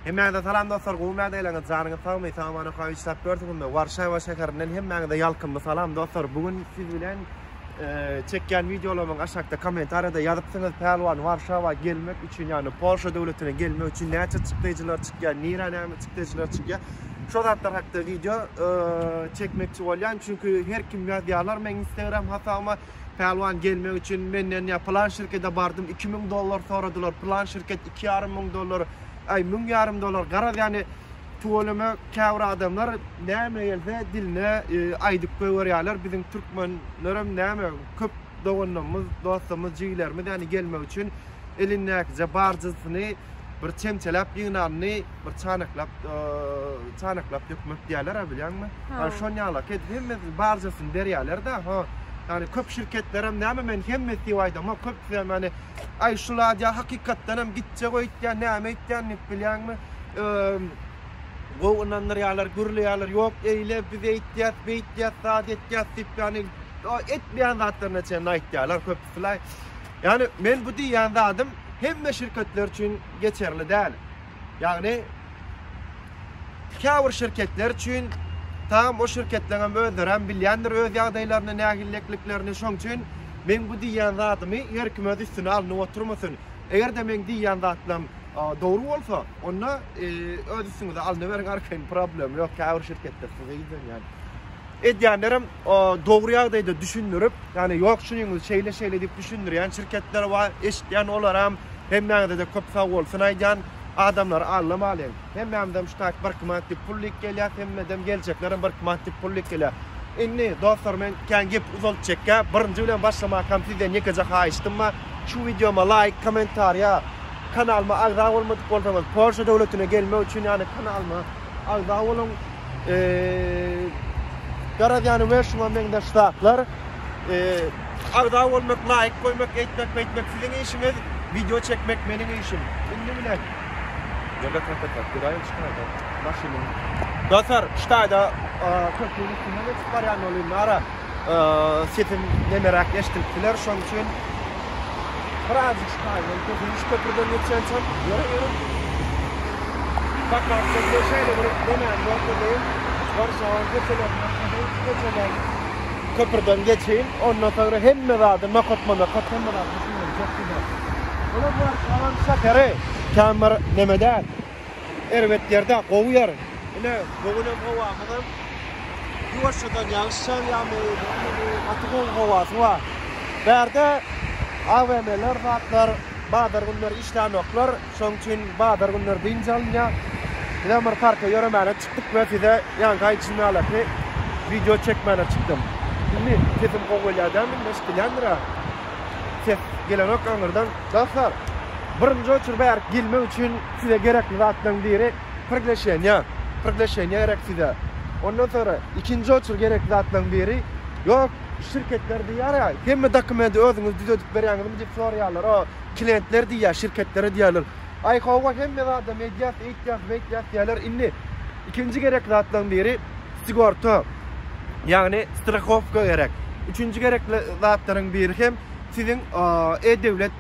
Hemmäňize salam dostlar, gowy mäde eleňiz, janyňyz sagmy, sagamana kawy işläp görsüňizmi? Warşawa şäherinden hemmäňize ýalkymly salam dostlar. Bu gün siz bilen e, çekýän wideolarymyň aşakda kommentariýada ýazypsyňyz, Pälwan Warşawa gelmek üçin, ýagny Polşa döwletine gelmek üçin näçe çykdaýjylar çykýar, nirä näme çykdaýjylar çykýar? Şo zatlar hakda wideo e, çekmekçi bolýan, çünki her kim ýazýarlar meň Instagram hasabyma. Pälwan gelmek üçin menden ýa pylan şirkede bardym iki müň dollar soradylar pylan şirket iki ýarym müň dollar aý müň ýarym dollar garaz ýany tüweleme käbir adamlar näme gelse diline aýdyp goýberýärler biziň türkmenlerem näme köp doganlarymyz dostlarymyz jigilerimiz ýany gelmek üçin elindäkije barjysyny bir çemçeläp ýygnanyny bir çanaklap çanaklap dökmek diýerler-ä bilýäňmi? Ýa şon ýala ket hemmesi barjasyny berýärler-de, ha. Ýani köp şirketlerem näme men hemmesi diýip aýdamok, köpüsi hem ýani aý şu zat ýa hakykatdan hem gitjek öýtýän, näme öýtýän diýip bilýäňmi? Gowy ynandyrýarlar, gürleýärler, ýok eýle biz öýtýäs, beýtýäs, zat etýäs diýip ýani etmeýän zatlaryna çenli aýtýarlar köp. Fly. Ýagny men bu diýýän zadym hemme şirketler üçin geçerli däl. Ýagny käbir şirketler üçin tam o şirketleriňem özlerem bilýändir öz ýagdaýlaryny, nägillikliklerini. Şoň üçin meň bu diýýän zadymy her kim öz üstüne alnyp oturmasyn. Eger-de meň diýýän zatlarym dogry bolsa, onda öz üstüňize alnyberiň arkaýyn problem ýok. Käbir şirketler size ýüzlenýär. Edýänlerem dogry ýagdaýda düşündirip, ýagny ýok şunyňyz şeýle şeýle diýip düşündirýän şirketler bar, eşitýän olaram. Hemmäňizede köp sagbolsun aýdýan. Adamlary aldamalyň. Hemmämizem şu taýt birki manat diýip pul lik gelýär, hemmädem geljeklerem birki manat diýip pul lik gelýär. Indi dostlar men kän gepi uzaltjekkä, birinji bilen başlamakam sizden ýekeje haýyştym bar, şu wideoma laýk, kommentariýa, kanalyma agza bolmadyk bolsaňyz Polşa döwletine gelmek üçin ýagny kanalyma agza boluň. Garaz-ýany we şuňa meňzeş zatlar. Agza bolmak, laýk goýmak, eýtmek-beýtmek siziň işiňiz, wideo çekmek meniň işim. Indi bilen. Ýöne kakata, guraýyn ştaýda maşynyň. Dostlar, ştaýda köprüniň üstünden geçip barýan bolýan ara. Sesim nemeräk eşdilip biler, şonuň üçin birazjyk şaýylan köpüs köprüden geçýänçäm ýöreýerin. Sakarda bir şeýle bir nemäni görkezeyim. Warşawa köçelerinden köpüs köçeler köprüden geçeýin. Ondan soňra hemme zady nokatma-nokat hemme zady düşündirjek size. Olar Warşawanyň şäheri, kän bir neme däl. Erbet ýerde gowy ýer. Ine, bu günem howamyzam ýuwaşjadan ýagyş ýagýarmy, nähili, gaty gowy howasy bar. Bärde AVM-ler zatlar bazar günleri işlänoklar, şonuň üçin bazar günleri dynç alynýar. Bizem bir parka ýöremäne çykdyk we size ýaňky aý içinalaky wideo çekmäne çykdym. Indi sesim gowy gelýär dälmi, indi eşidilýändir-ä. Ses gelenok aňyrdan. Dostlar, birinji oçur bärik gelmek üçin size gerekli zatlaryň biri prigleşeniýa. Prigleşeniýa gerek size. Ondan soňra ikinji oçur gerekli zatlaryň biri, ýok, şirketler diýýär ýa, hemme dokumenti özüňiz düzedip berýäňizmi diýip soraýarlar. O, klientler diýýär, şirketlere diýýärler. Aý, hawa, hemme zadam edýäs, eýtýäs, beýtýäs diýýärler. Indi ikinji gerekli zatlaryň biri sigorta, ýagny strahowka gerek. Üçünji gerekli zatlaryň biri hem, Siziň e-döwlet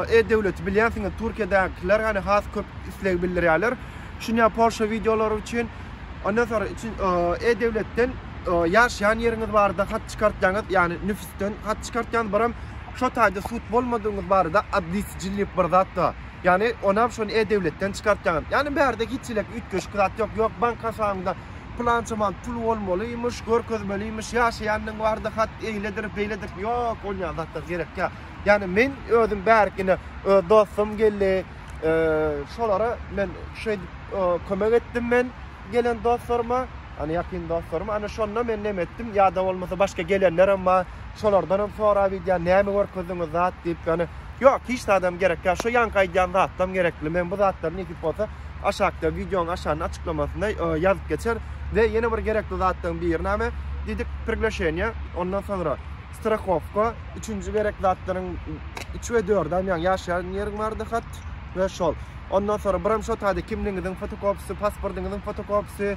e-döwleti bilýänsiňiz Türkiýedäkiler hany has köp isleg bildirýärler. Şunya Polşa wideolary üçin ondan soň üçin e-döwletden ýaşaýan ýeriňiz barada hat çykartýaňyz, ýagny nüfusden hat çykartýaňyz, biram şo taýda sud bolmadygyňyz barada adlisijil diýip bir zat bar. Ýagny onam şony e-döwletden çykartýaňyz. Ýagny bärde hiç elek üýtgeşik zat ýok. Ýok bank hasabyňda Pylança man pul bolmalymyş, görkezmelimiş, ýaşaýandyň bardy hat eýledir, beýledir. Ýok, ol ýaly zatlar gerek ýa. Ýani men özüm bärik ine öz dostum geldi. Şolara men şeýdip kömek etdim men gelen dostlaryma. Ana ýakyn dostlaryma. Ana şonda men näme etdim? Ýa-da bolmasa başga gelenler hem bar. Şolardan hem sorap edýän, näme görkezdiňiz zat diýip, ýani Ýok hiç zadam gerek ýa şo ýanky aýdýan zatlam gerekli men bu zatlary nesip bolsa aşakda wideoň aşagynda açyklamasynda ýazyp geçer we ýene bir gerekli zatlaryň biri näme diýdik priglaşeniýa ondan soňra strahowka üçünji gerek zatlaryň üç we dördem ýaň ýaşaýan ýeriň bardy hat we şol ondan soňra biram şo taýda kimligiňiziň fotokopisi pasportyňyzyň fotokopisi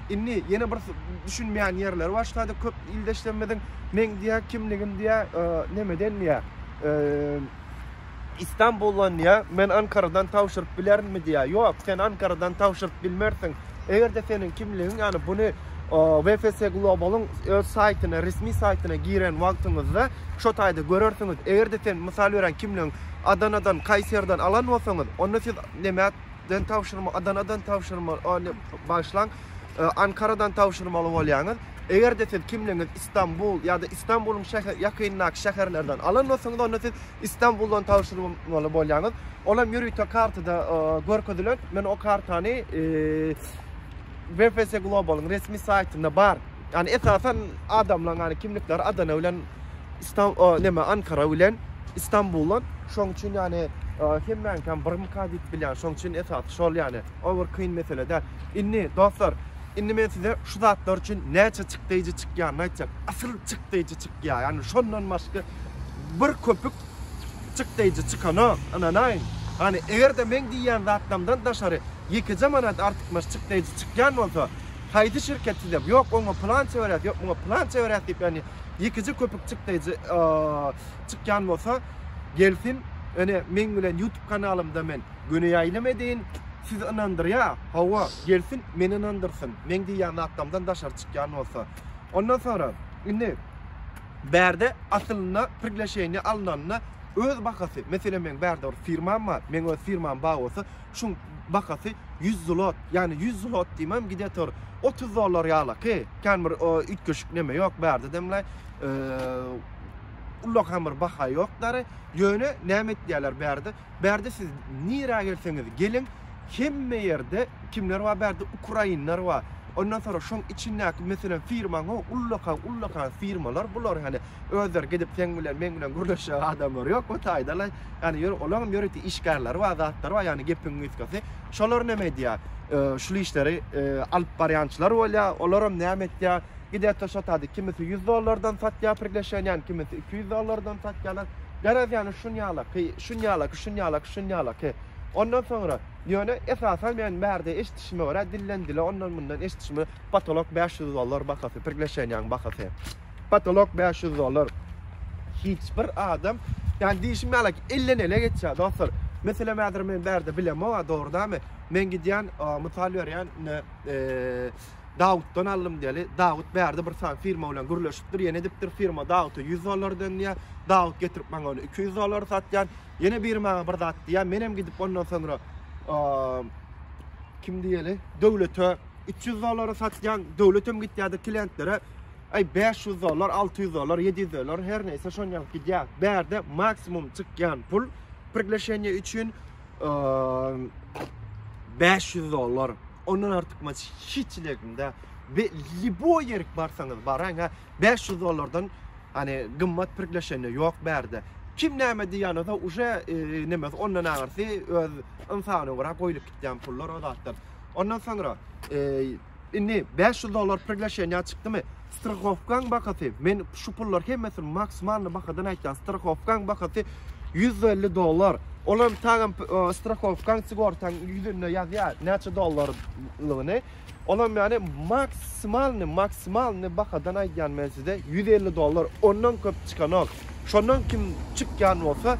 Indi ýene bir düşünmeýän ýerleri başlady köp ildeşlerimiziň. Meň diýýär kimligim diýýär nemeden diýýär. Istanbuldan diýýär. Men Ankaradan tabşyryp bilerinmi diýýär. Ýok, sen Ankaradan tabşyryp bilmersiň. Eger-de seniň kimligiň, ýani buny VFS Global-yň öz saýtyna, resmi saýtyna giren wagtyňyzda şo taýda görersiňiz. Eger-de sen, mysal berýän, kimligiň Adanadan, Kaýseriden alan bolsaňyz, onda siz neme Ýurtdan tabşyrma, Adanadan tabşyrma, ony bagyşlaň, Ankaradan tabşyrmaly bolýaňyz. Eger-de siz kimligiňizi Istanbul ýa-da Istanbulyň şäher ýakynyndaky şäherlerden alan bolsaňyz, onda siz Istanbuldan tabşyrmaly bolýaňyz. Ol hem ýörite kartada görkezilen. Men o kartany VPS Global-yň resmi saýtynda bar. Ýagny esasan adamlaryň ýagny kimlikleri Adana bilen Istan o neme Ankara bilen Istanbuldan. Şoň üçin ýagny hemmäňkam birmika diýip bilýän. Şoň üçin esasy şol ýagny. Ol bir kyn mesele däl. Indi dostlar, indi men size şu zatlar üçin näçe çykdaýjy çykýanyny aýtjak. Asyl çykdaýjy çykýar. Ýagny şondan başga bir köpük Çyk deýji çykanok, ynanaýyň. Hany, eger-de meň diýýän zatlamdan daşary ýekeje manat artykmaç çyk deýji çykýan bolsa, haýsy şirket size, ýok, oňa pylança berýäs, ýok, muňa pylança berýäs diýip, ýagny ýekeje köpük çyk deýji çykýan bolsa, gelsin, ýöne meň bilen ýutub kanalymda men göni ýaýlym edin, sizi ynandyrýa, hawa, gelsin, meni ynandyrsyn, meň diýýän zatlamdan daşary çykýan bolsa. Ondan soňra, indi, Bärde aslynda priglaşeniýe alnanda öz bahasy, meselem meň bärde bir firmam bar, meň öz firmam bar bolsa, şuň bahasy ýüz zlot, ýagny ýüz zlot diýmem gidetor otuz dollar ýalaky, kän bir üýtgeşik neme ýok bärde demlaý, ullakan bir baha ýokdary, ýöne näme etýärler bärde, Bärde siz nirä gelseňiz geliň hemme ýerde kimler bar bärde ukrainler bar ondan soň şoň içindäki meselem firmaň o ullakan ullakan firmalar bular ýani özleri gidip seň bilen meň bilen gürleşjek adamlar ýok bu taýdala ýani ýöne olaň ýörite işgärleri bar zatlary bar ýani gepiň gysgasy şolar näme edýär şul işleri alyp barýançylar bolýar olaram näme etýär gidertde şotady kimisi ýüz dollardan satýar prigleşeniýäni kimisi iki ýüz dollardan satýarlar. Garaz ýany şunýalaky, şunýalaky, şunýalaky, şunýalaky. Ondan soňra, ýöne esasan men bärde eşdişime görä dilden dile ondan mundan eşdişime potolok bäş ýüz dollar bahasy prigleşenýaň bahasy. Potolok bäş ýüz dollar. Hiç bir adam ýani diýişim ýalaky elden ele geçýär dostlar. Meselem häzir men bärde bilemok-a dogry dämi? Men gidýän mysal berýän ine eee Dawutdan aldym diýeli. Dawut bärde bir sany firma bilen gürleşipdir, ýene edipdir. Firma Dawuta ýüz dollar dönýär. Dawut getirip maňa ony iki ýüz dollara satýar. Ýene biri maňa bir zat diýýär. Menem gidip ondan soňra kim diýeli, döwlete üç ýüz dollara satýan. Döwletem gitýärdi klientlere. Aý 500 dollar, 600 dollar, 700 dollar her näçe şony alyp gidýär. Bärde maksimum çykýan pul prigleşeniýe üçin 500 dollar. Ondan artykmaç hiç ilegimde. Be, liboy yerik barsaňyz baraň ha. 500 dollardan hani gymmat pirkleşende yok berde. Kim näme diýýäni da uje e, nemes ondan aňyrsy öz ynsana görä goýlup gitýän pullar o zatlar. Ondan soňra e, Indi bäş ýüz dollar priglaşeniýa çykdymy? Strahowkaň bahasy, men şu pullar hemmesini maksimalny bahadan aýtýan, strahowkaň bahasy ýüz elli dollar. Ol hem taýam strahowkaň sigortaň ýüzünde ýazýar näçe dollarlygyny. Ol hem ýani maksimalny, maksimalny bahadan aýdýan men size ýüz elli dollar. Ondan köp çykanok. Şondan kim çykýan bolsa,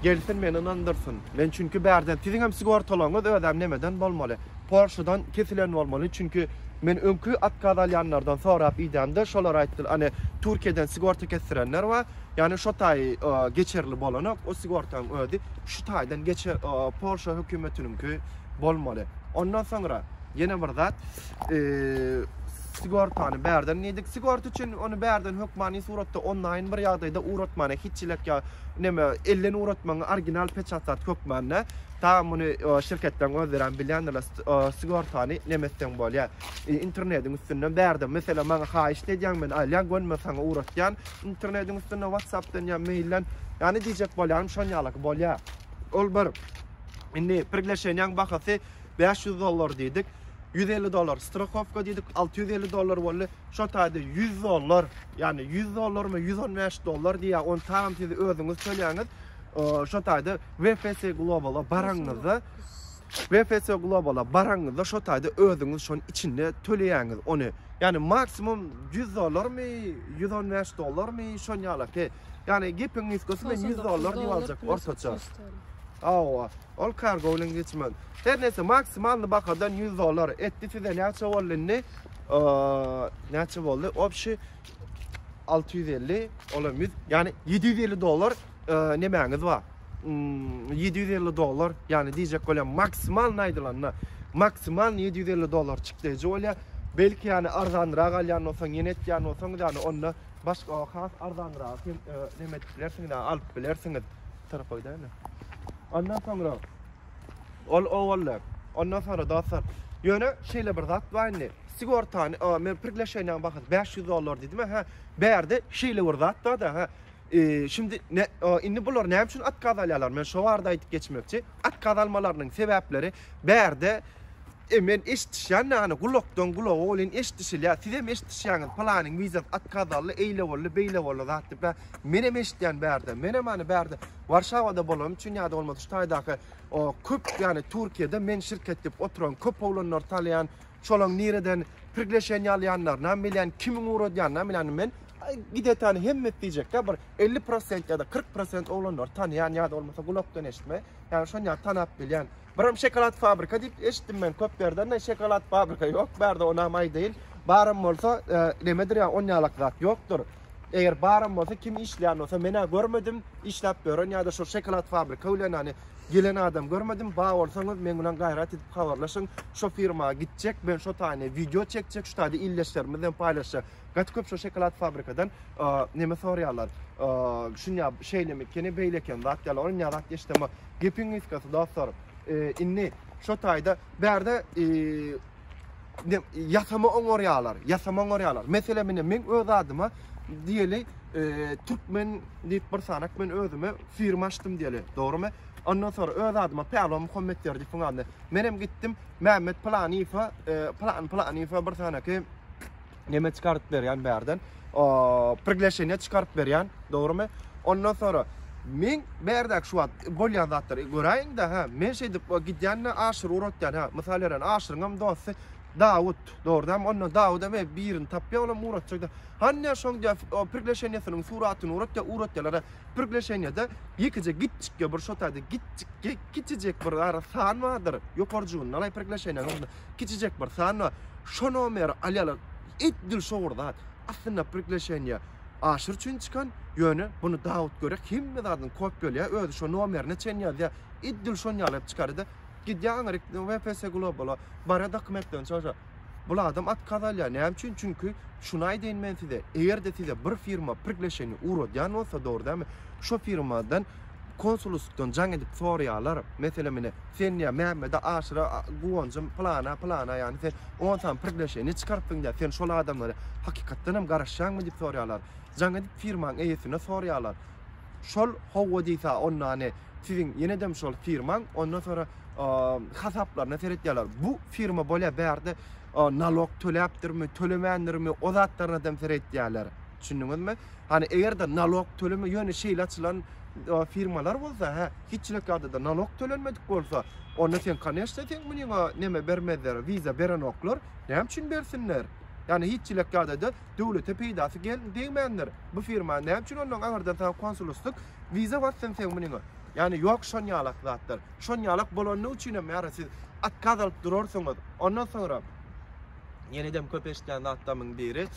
gelsin meni ynandyrsyn. Men çünki bärden siziň hem sigortalaryňyz özem nemeden bolmaly. Polşadan kesilen bolmaly çünki men öňki otkaz alýanlardan sorap idemde şolar aýtdyl any Türkiýeden sigorta kesdirenler bar ýani şo taýy geçerli bolanok o sigortaň özi şu taýdan geçe Polşa hökümetiniňki bolmaly ondan soňra ýene bir zat sigortany bärden diýdik sigorta üçin ony bärden hökmany suratda onlaýyn bir ýagdaýda uratmana hiç çilek ýa neme ellen uratmagyň orginal peçatat hökmanda. Taýam muny şirketden gözlärem bilýändirler sigortany nemetseň bolýa internediň üstünden bärde meselem maňa haýyşt edýäň men alýan gönme saňa ugratýan internediň üstünden watsapdan ýa meýilden ýany diýjek bolýarym şon ýalaky bolýa ol bir indi prigleşenýaň bahasy bäş ýüz dollar diýdik ýüz elli dollar strahowka diýdik alty ýüz elli dollar boldy şo taýda ýüz dollar ýany ýüz dollarmy ýüz on bäş dollar diýýä ony taýam siz özüňiz tölýäňiz şo taýda VFS Global-a baraňyzda, VFS Global-a baraňyzda şo taýda özüňiz şonuň içinde töleýäňiz ony. Ýagny maksimum 100 dollarmy, 115 dollarmy şon ýalaky. Ýagny gepiň nusgasy men 100 dollar diýip aljak ortaça. Awa, ol kargo bilen geçmez. Her nese maksimalny bahadan 100 dollar etdi size näçe boldy indi? Näçe boldy? Obşi 650, olam 100, ýagny 750 dollar Nemäňiz ba? Ýedi ýüz elli dollar, ýagny diýjek bolýan maksimalny aýdylanda, maksimalny ýedi ýüz elli dollar çykdaýjy bolýar. Belki ýagny arzanyrak alýan bolsaň, ýene etýän bolsaňyz ýagny onda başga has arzanyragy hem neme edip bilersiňiz ýagny alyp bilersiňiz. Şu tarapa gidäýeli. Ondan soňra ol owalda, ondan soňra dostlar, ýöne şeýle bir zat bar indi. Sigortany, men priglaşeniýaň bahasy bäş ýüz dollar diýdim-ä, hä. Bärde şeýle bir zat bar-da, hä. E, şindi ne, o, indi bular näme üçin otkaz alýarlar? Men şo barada aýdyp geçmekçi. Otkaz almalarynyň sebäpleri bärde e, men eşdişýän näni gulakdan gulaga welin eşdişilýär. Sizem eşdişýäňiz, pylanyň wizasy otkaz aldy, eýle boldy, beýle boldy zat diýip. Bä, menem eşdýän bärde. Menem hany bärde Warşawada bolanym üçin ýa-da bolmasa şu taýdaky o köp, ýagny Türkiýede men şirket diýip oturan köp oglanlary tanýan, şolaň nireden priglešeniýa alýanlaryny hem bilýän, kimiň ugradýanyny hem bilýän. Men Aý, gidetany hemmesi diýjekkä bir elli prosent ýa-da kyrk prosent oglanlary tanaýan ýa-da bolmasa gulakdan eşitme, ýagny şonýa tanap bilýän. Birem şokolad fabrika diýip eşitdim men köp ýerden de şokolad fabrika ýok bärde onam aýdaýyn. Baram bolsa nemedir ýa on ýalak zat ýokdur. Eger baram bolsa kim işleýän bolsa menä görmedim işläp ýören ýa-da şol şokolad fabrika bilen ýany gelen adam görmedim. Ba bolsaňyz meň bilen gaýrat edip habarlaşyň. Şo firma gitjek, men şo taýyny wideo çekjek, şu taýda ildeşlerimiz bilen paýlaşjak. Gaty köp şo şokolad fabrikadan neme sorýarlar. Şunya şeýlemi keni beýle eken zat ýaly ol ýa zat geçdimi. Gepiň gysgasy dostlar. Indi şo taýda bärde ýasama oňarýarlar, ýasama oňarýarlar. Meselem meni men öz adyma diýeli türkmen diýip bir sanak men özüme firma açdym diýeli. Dogrymy? Ondan sonra öz adyma Päwlan Muhammet ýerdi fun adyny. Menem gitdim Mehmet Planifa, Plan Planifa bir sanaky neme çykaryp berýän bärden prigleşeniýe çykaryp berýän dogrymy ondan sonra men bärdäki şu wagt bolýan zatlary göräýiňde ha men şeýdip gidýände aşyr uratýan ha mysal beren aşyryňam dosty Dawut dogrudan onda Dawuda me birini tapýa olam uratjak hanyýa şoň diýä prigleşeniýesiniň suratyny uratýa uratýalara prigleşeniýede ýekeje gitjikge bir şotaýda gitjikge kiçijek bir ara san bardyr ýokarjygynda prigleşeniýe Kiçijek bir sanna şo nomeri alýarlar. Edil şo bir zat. Aslynda prigleşeniýe aşyr üçin çykan, ýöne muny Dawut görýär, hemme zadyny kopýalaýar, özi şo nomerine çen ýazýar. Edil şon ýaly edip çykarýar-da, gidýär aňryk WPS Global-a, barýar dokumentlerini çykaryp. Bul adam otkaz alýar. Näme üçin? Çünki şuny aýdaýyn men size, eger-de size bir firma prigleşeniýe ugradýan bolsa, dogry dälmi, şo firmadan, Konsullysykdan jaň edip soraýarlar. Meselem ine, sen diýýär, Mämmede aşyra guwanjym plana, plana ýany sen on sany prigleşeniýe çykarypsyň diýýär. Sen şol adamlary hakykatdan hem garaşýaňmy diýip soraýarlar. Jaň edip firmaň eýesine soraýarlar. Şol howwa diýsa onda ane siziň ýenedem şol firmaň ondan sonra hasaplaryna seretýärler. Bu firma bolýar bärde nalog töläpdirmi, tölemändirmi o zatlaryna dem seretýärler. Düşündiňizmi? Hany eger-de nalog töleme, ýöne şeýle açylan firmalar bolsa, hä, hiçlik ýagdaýda nalog tölenmedik bolsa, onda sen koneşne seň munyňa neme bermezler, wiza berenoklar, näme üçin bersinler? Ýani hiçlik ýagdaýda döwlete peýdasy gel degmändir. Bu firma näme üçin ondan aňyrdan saňa konsulustlyk wiza bassyn seň munyňa? Ýani ýok şon ýalak zatlar. Şon ýalak bolany üçin hem ýara siz otkaz alyp durarsyňyz. Ondan soňra ýene-de köp eşitýän zatlarymyň biri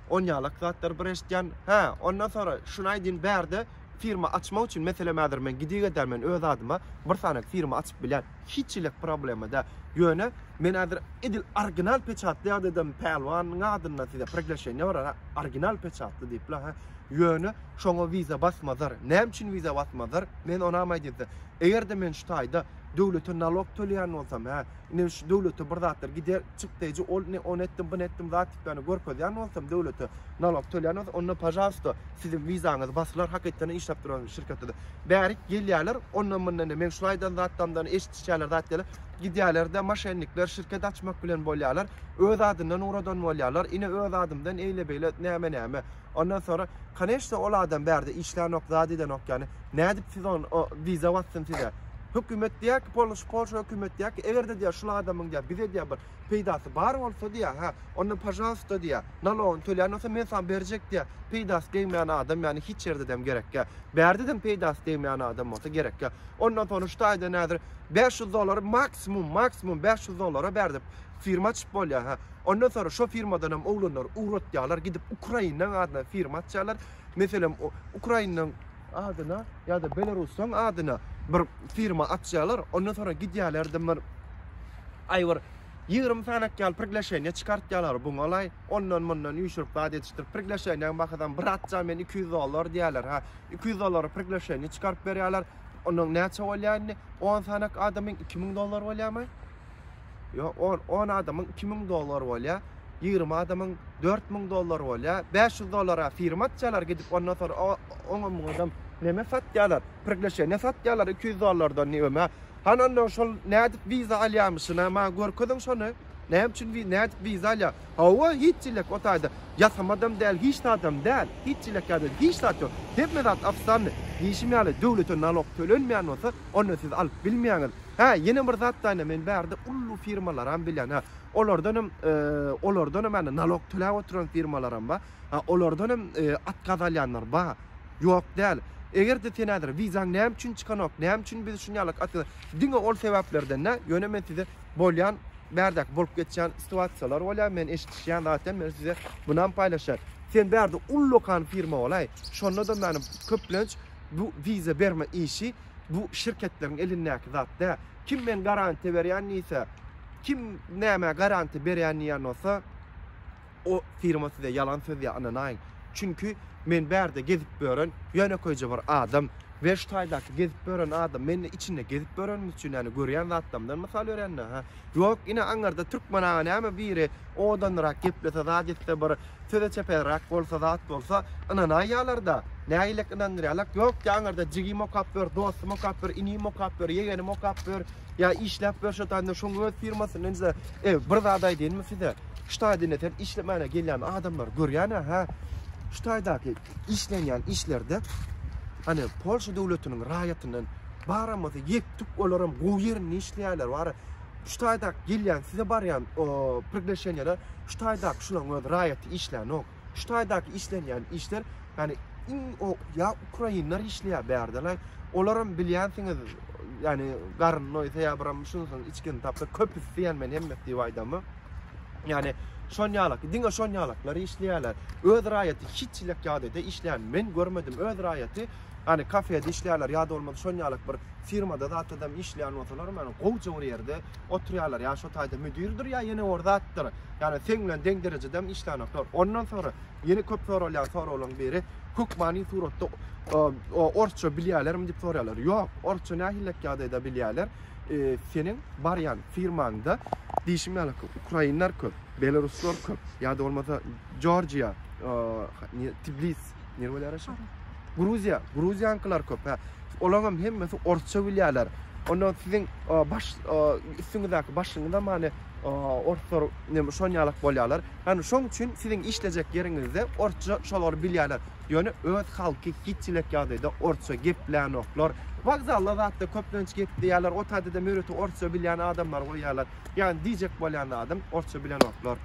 Onýalak zatlar bir eşitýän. Hä, ondan soňra şuny aýdyn bärde firma açmak üçin meselem häzir men gidik ederin men öz adyma bir sany firma açyp bilýän. Hiç hili problema däl. Ýöne men häzir edil orginal peçatly ýagdaýdam Pälwanyň adyndan size priglaşeniýa barar. Orginal peçatly diýip la hä. Ýöne şoňa wiza basmazar. Näme üçin wiza basmazar? Men onam aýdyn size. Eger-de men şu taýda döwlete nalog töleýän bolsam hä, Ine şu döwlete bir zatlar gider çykdaýjy ol ne ony etdim buny etdim zat dikdany görkezýän bolsam döwlete nalog tölýän bolsa onda pažalsta siziň wizaňyz basylar hakykatdan işläp duran şirketde bärik gelýärler ondan mundan de meň şul aýdan zatlamdan eşitişýärler zat diýerler gidýärlerde maşennikler şirket açmak bilen bolýarlar öz adyndan uradan bolýarlar ine öz adymdan eýle beýle näme näme Ondan sonra koneşne ol adam bärde işlänok zat edenok yani nädip siz on o viza batsyn size hökümet diýär ki polş polşa hökümet diýär ki eger de diýär şul adamyň diýär bize diýär bir peýdasy bar bolsa diýär ha onda pažalsta diýär nalogyny tölän bolsa men saňa berjek diýär peýdasy degmeýän adam yani hiç ýerde dem gerek ýa bärde dem peýdasy degmeýän adam bolsa gerek ýa ondan sonra şu taýda nädir 500 dollar maksimum maksimum 500 dollara bärdip firma açyp bolýar ha Ondan sonra şo firmadanam oglanlar ugratýarlar gidip Ukrainaň adyna firma açýarlar. Meselem Ukrainaň adyna ýa-da Belarusaň adyna bir firma açýarlar. Ondan sonra gidýärler dymyr. Aý bir 20 sanak ýaly priglaşeniýe çykartýarlar bu galaý. Ondan mundan üýşürip zat edişdir. Priglaşeniýaň bahasam bir atja men 200 dollar diýýärler. Ha 200 dollara priglaşeniýe çykaryp berýärler. Onuň näçe bolýar indi? 10 sanak adamyň 2000 dollar bolýarmy? Yo, on, on adamyň iki müň dollar bolýa, ýigrimi adamyň dört müň dollar bolýa, bäş ýüz dollara firma açýalar gidip, ondan soň oňam muňam neme satýalar, prigleşeniýe satýalar iki ýüz dollardan neme. Han onda şol nädip wiza alýamyşyna maňa görkeziň şony. Näme üçin wiza, nädip wiza alýa? Hawa, hiç çilek o taýda. Ýasama adam däl, hiç zadam däl. Hiç çilek ýa-da hiç zat ýok. Hemme zat ofisialny. Diýşim ýaly, döwlete nalog tölenmeýän bolsa, onda siz alyp bilmeýäňiz. Hä, ýene bir zat da ine, men bärde uly firmalaram bilýän. Hä, olardanam, olardanam ýa-da nalog töläp oturan firmalaram bar. Hä, olardanam atkaz alýanlar bar. Ýok däl. Eger-de sen häzir wizaň näme üçin çykanok, näme üçin biz şuny ýaly atkaz, diňe ol sebäplerden dä, ýöne men size bolýan, bärdäki bolup geçýän situasiýalar bolýar, men eşitişýän zat hem, men size munam paýlaşýan. Sen bärde ullakan firma bolaý, şonda-da, köplenç bu wiza berme işi, bu şirketleriň elindäki zat dä. Kim men garantiýa berýän diýse, kim nämä garantiýa berýän diýen bolsa, o firma size ýalan sözýär, ynanaýyň. Çünki men bärde gezip ýören ýönekeýje bir adam, Werştaýdaky gezip ýören adam, men içinde gezip ýörenimiz üçin, ýani görýän zatlarymdan mysal berýän-dä, hä. Ýok, ine aňyrda Türkmen aga näme biri odanlyrak geplese zat etse bir söze çeperrak bolsa zat bolsa ynanaýýalarda. Nägilek ynandyrýalak. Ýok ýa aňyrda jigim okap ýör, dostum okap ýör, inim okap ýör, ýegenim okap ýör, ýa işläp ýör şo taýynda şoň öz firmasyn inze. Ew, bir zat aýdaýynmy size? Şu taýda ine sen işlemänä gelýän adamlary görýänä hä? Şu taýdaky işlenýän işlerde hany Polşa döwletiniň raýatyndan baramasa ýetdik olaram gowy ýerinde işleýärler wara şu taýdak gelýän size barýan prigleşenýeler şu taýdak şularyň öz raýaty işlänok şu taýdaky işlenýän işler hany iň o ýa ukrainler işleýär bärdela olaram bilýänsiňiz ýani garyn noýsa ýa biram şunsyň içgin tapsa köpüsi ýani men hemmesi diýip aýdamy Ýani şon ýalak, diňe şon ýalaklar işleýärler. Öz raýaty hiç çilek ýagdaýda işleýän men görmedim. Öz raýaty Hani kafede işleýärler, ýa da bolmasa şon ýalak bir firmada zatadam işleýän bolsalar, men gowja bir ýerde oturýarlar. Ýa şo taýda müdirdir, ýa ýene bir zatdyr. Ýani sen bilen deň derejede hem işlänoklar. Ondan soňra ýene köp soralýan soraglaryň biri hökmany suratda orsça bilýärlermi diýip sorýarlar. Ýok, orsça nähillek ýagdaýda bilýärler. seniň barýan firmaňda diýşim ýaly ukrainler köp, belaruslar köp, ýa-da bolmasa Georgiýa, e, Tbilis, nirä bolýar şu? Gruziýa, gruziýankylar köp. Hä. Olaryň hem hemmesi orsça bilýärler. Onda siziň e, baş e, üstüňizdäki başyňyz hem hani e, orslar neme şon ýalak bolýarlar. Hani şoň üçin siziň işlejek ýeriňizde orsça şolar bilýärler. Ýöne öz halky hiç çilek ýagdaýda orsça geplänoklar. Wokzalda zatda köplenç gepleýärler. O taýda-da müreti orsça bilýän adamlar goýýarlar. Ýagny diýjek bolýan zadym, orsça bilenoklar.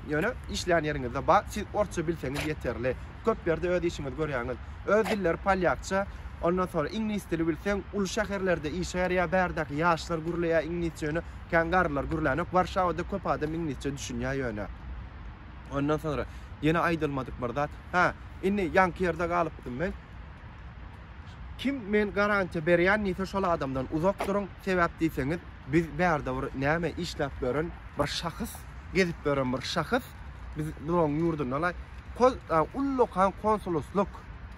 Ýöne işlän ýeriňizde bar, siz orsça bilseňiz ýeterli. Köp ýerde öz işiňizi görýäňiz. Öz dilleri polýakça, ondan soňra iňlis dili bilseň, uly şäherlerde işgär ýa bärdäki ýaşlar gürleýär iňlisçe ýöne kän garrylar gürlänok. Warşawada köp adam iňlisçe düşünýär ýöne. Ondan soňra ýene aýdylmadyk bir zat. Hä, indi ýaňky ýerde galypdym men. Kim men garantiýa berýän diýse, şol adamdan uzak duruň. Sebäp diýseňiz, biz bärde bir näme işläp ýören bir şahys, gezip ýören bir şahys, biz bunuň ýurdundan ullakan konsuloslyk,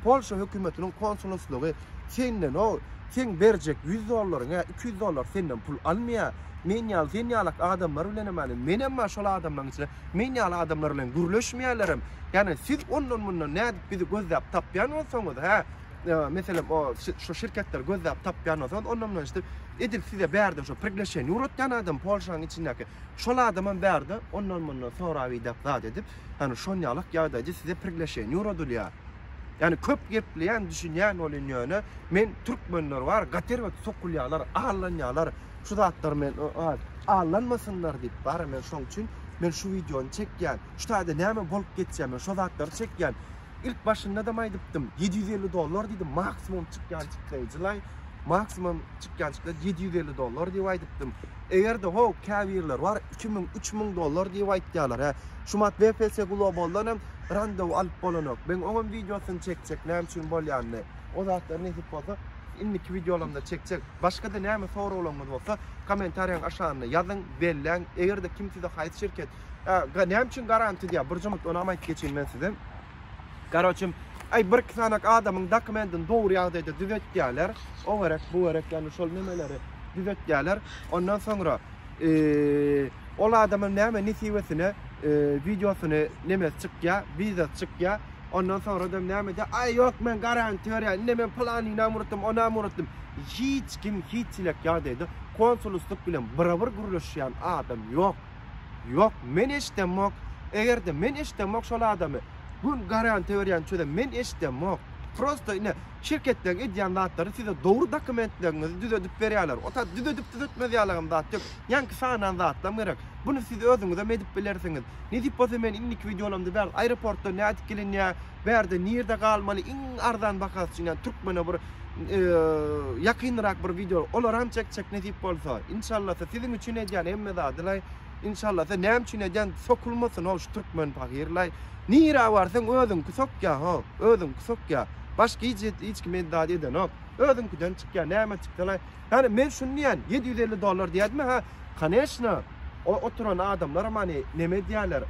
Polşa hökümetiniň konsuloslygy senden o, seň berjek 100 dollaryň ýa 200 dollar senden pul almaýar. Men ýaly, sen ýalak adamlar bilen hem, menem bar şol adamlaryň içinde. Men ýaly adamlar bilen gürleşmeýärlerem. Ýagny siz ondan-mundan nädip bizi gözläp tapýan bolsaňyz, hä? Meselem, o şu şirketleri gözläp tapýan bolsaňyz, ondan-mundan işte edil size bärde şu prigleşeniýe uratýan adam Polşanyň içindäki. Şol adamam bärde ondan-mundan sorap idap zat edip, hany şonýalak ýagdaýda size prigleşeniýe uradylýar. Ýagny köp gepleýän düşünýän bolýan ýöne men türkmenler bar, gaty erbet sokulýarlar, allanýarlar. şu zatlar men allanmasynlar diýip bara men şoň üçin men şu wideony çekýän şu taýda näme bolup geçýär men şo zatlary çekýän ilk başynda da aýdypdym ýedi ýüz elli dollar diýdim maksimum çykýan çykdaý jylaý maksimum çykýan çykdaý ýedi ýüz elli dollar diýip aýdypdym egerde ho käbirler bar iki müň üç müň dollar diýip aýtýarlar hä şu mat bfs globaldan hem randewu alyp bolanok men oňam wideosyny çekjek näme üçin bolýanyny O zatlar nesip bolsa indiki wideolarymda çekjek. Başga-da näme soraglaryňyz bolsa kommentariýaň aşagynda ýazyň, belläň. Eger-de kim size haýsy şirket, a, näme üçin garanti diýýär, bir jumut onam aýdyp geçeýin men size. Garoçem, aý bir-iki sanak adamyň dokumentini dogry ýagdaýda düzetýärler. O gerek, bu gerek, ýagny şol nemeleri düzetýärler. Ondan soňra, eee, ol adamyň näme nesibesine, eee, wideosyny nemesi çykýar, wizasy çykýar. Ondan soradam nämede, Aý, ýok, men garany töreýän, ine, men pylanynam urutdym, onam urutdym. Hiç kim, hiç çilek ýagdaýda konsuluslyk bilen bir-bir gürleşýän adam ýok. Ýok, men eşidemok. Eger-de men eşidemok şol adamy, gün garany töreýän çözem men eşidemok. Prosta, ine, şirketleriň edýän zatlary size dogry dokumentleriňizi düzedip berýärler. O tat düzedip-düzetmez ýaly hem zat ýok. Ýaňky sanan zatlam gerek. Buny siz özüňizem edip bilersiňiz. Nesip bolsa men indiki wideolarymda bäri aeroportdan nädip gelinýä, bärde nirde galmaly iň arzan bahasy üçin ýa türkmene bir ýakynrak bir wideo olaram çekjek nesip bolsa. Inşallasa siziň üçin edýän hemme zadylaý. Inşallasa näme üçin edýän sokulmasyn ol şu türkmen pagyrlaý. Nirä barsaň özüňki sokýa ho, özüňki sokýa. Başga hiç hiç kim edýän zat edenok. Özüňkiden çykýa näme çyksalaý. Hany men şuny diýýän, ýedi ýüz elli dollar diýýädimi, ha? Koneçna, o oturan adamlaram hany neme edýärler,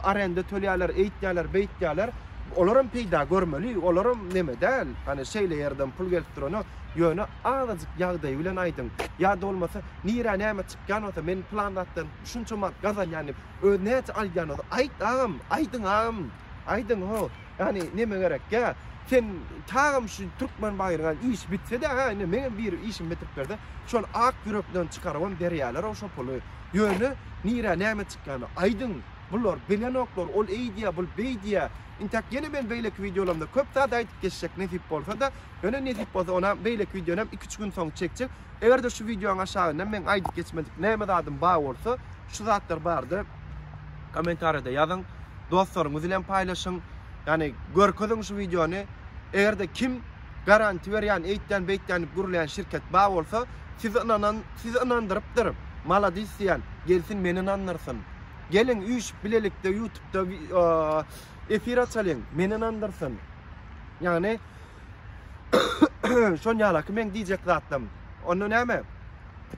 arenda tölýärler, eýtýärler, beýtýärler. Olaram peýda görmeli, olaram neme däl, hany şeýle ýerden pul gelip durana, ýöne azajyk ýagdaýy bilen aýdyň. Ýa-da bolmasa, nirä näme çykýan bolsa, men pylan zatdan şunça manat gazanýan diýip, özi näçe alýan bolsa, aýt agam, aýdyň agam, aýdyň ho. Ýagny neme gerek? Ýa sen çagam şu türkmen baýryňa iş bitsede ha indi meňem bir işim bitirip berde şol ak ýürekden çykarybam berýälerow şo puly. Ýöne nirä näme çykýany aýdyň. Bular bilenoklar ol eýdýä bul beýdýä. Intäk ýene men beýleki wideolarymda köp zat aýdyp geçjek nesip bolsada. Ýöne nesip bolsa onam beýleki wideonam iki üç gün soň çekjek. Egerde şu wideoň aşagynda meň aýdyp geçmedik näme zadym bar bolsa şu zatlar barada komentariýada ýazyň. dostlaryňyz bilen paýlaşyň. Ýani görkeziň şu wideony. Eger-de kim garanti berýän, eýtýän, beýtýän diýip gürleýän şirket bar bolsa, sizi ynanan, sizi ynandyrypdyr, maladis diýýän, gelsin meni ynandyrsyn. Geliň üýşüp bilelikde ýutubda efir açalyň, meni ynandyrsyn. Ýani şonýalaky meň diýjek zatlarym. Onda näme?